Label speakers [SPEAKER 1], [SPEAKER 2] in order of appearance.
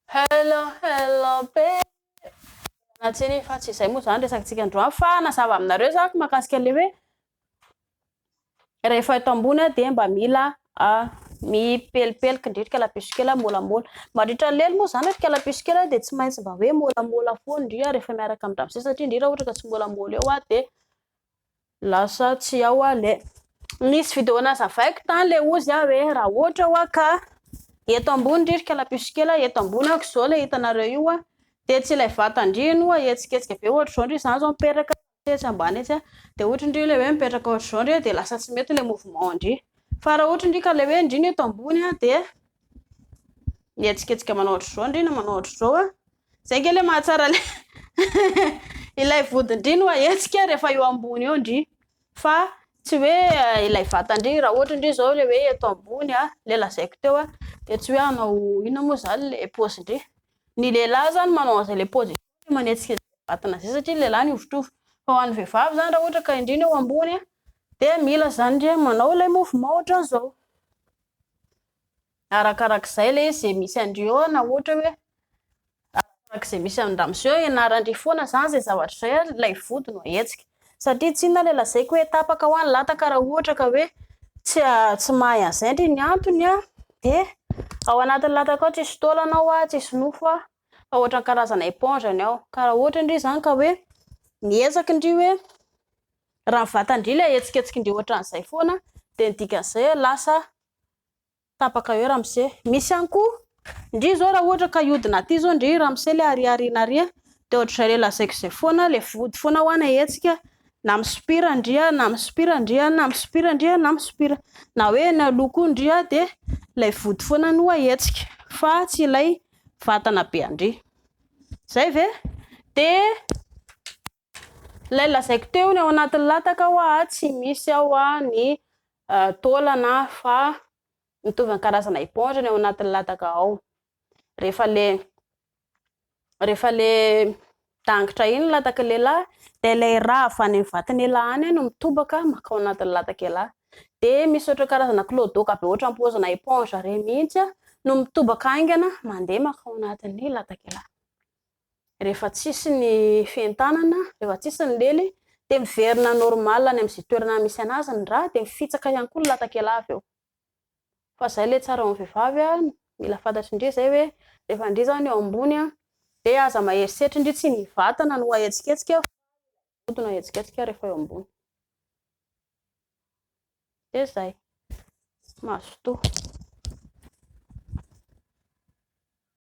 [SPEAKER 1] Hello hello be na tsy ny fa tsy izay moa izany resakantsika androany fa nazava aminareo zako mahakasika le hoe rehefa eto ambony dia mba mila mipelipelika indrindra kalapiso kely molamola mandritra ny lely moa izany ry kalapiso kely dia tsy maintsy mba hoe molamola foana indrindra rehefa miaraka amin'ny ramose satria indrindra ohatra ka tsy molamola eo dia Lasa tsy ao ah le. Nisy video nazavaiko tany le ozy ah hoe raha ohatra hoa ka eto ambony ry kalapiso kely ah eto ambony ah ko zao le hitanareo io ah de tsy ilay vatan-dry iny hoa hihetsiketsika be ohatra zao ndry zany zao mipetraka etsy etsy ambany etsy ah de ohatra ndry le hoe mipetraka ohatra zao ndry de lasa tsy mety le mouvement an-dry fa raha ohatra ndry ka le hoe ndry ny eto ambony ah de mihetsiketsika manao ohatra zao ndry na manao ohatra zao ah Zay nge le mahatsara le ilay vodin-dry no ahetsika rehefa eo ambony eo ndry fa tsy hoe ilay vatan-dry raha ohatra ndry zao le hoe eto ambony a le lazaiko teo a de tsy hoe hanao inona moa zany le pôzin-dry ny lehilahy zany manao an'izay le pôzin-dry le manetsika izay vatana izay satria ny lehilahy mihovitrovy fa ho an'ny vehivavy zany raha ohatra ka indry no eo ambony a de mila zany ndry manao ilay mouvement ohatran'izao Arakarak'izay lay ze misy andry eo na ohatra hoe arakarak'ze misy andramose eo ianarandry foana zany ze zavatra zay ary lay vody no ahetsika satria tsinona lay lazaiko hoe tapaka hoa ny lataka raha ohatra ka hoe tsy tsy mahay an'izay ndry ny antony an de ao anatin'ny lataka ao tsisy taolana ao hoa tsisy nofo hoa fa ohatran'ny karazana éponge ny ao ka raha ohatra ndry zany ka hoe mihezaky ndry hoe raha ny vatandry lay ahetsiketsikindry ohatran'izay foana de ny dikan'izay hoe lasa tapaka eo ramose. Misy ihany koa ndry zao raha ohatra ka hiodina aty zao ndry ramose le ary ary na ry de ohatr'izay le lazaiko zay foana le vody foana hoana hetsika na misopira ndry a na misopira ndry a na misopira ndry a na misopira na hoe eny aloha koa ndry a de lay vody foana no ahetsika fa tsy ilay vatana be andry zay ve de Ilay lazaiko teo ny ao anatin'ny lataka hoa tsy misy ao hoa ny taolana fa mitovy amin'ny karazana éponge ny ao anatin'ny lataka ao. Rehefa le rehefa le dangitra iny ny lataky lehilahy de ilay rà avy any amin'ny vatan'ialahy any no mitobaka makao anatin'ny latak'ialahy. De misy ohatry ny karazana clodoka be ohatry ny paozina éponge reny mihitsy no mitobaka haingana mandeha makao anatin'ny latak'ialahy. Rehefa tsisy ny fientanana, rehefa tsisy ny lely dia miverina normal any amin'izay toerana misy anazy ny rà dia mifitsaka ihany koa ny latakela avy eo. Fa izay ilay tsara eo amin'ny vehivavy a, mila fantatry ndry izay hoe rehefa ndry izany eo ambony a dia aza mahery setra ndry tsy ny vatana no ahetsiketsika fa ilay vody no ahetsiketsika rehefa eo ambony. Dia izay. Mazotoa.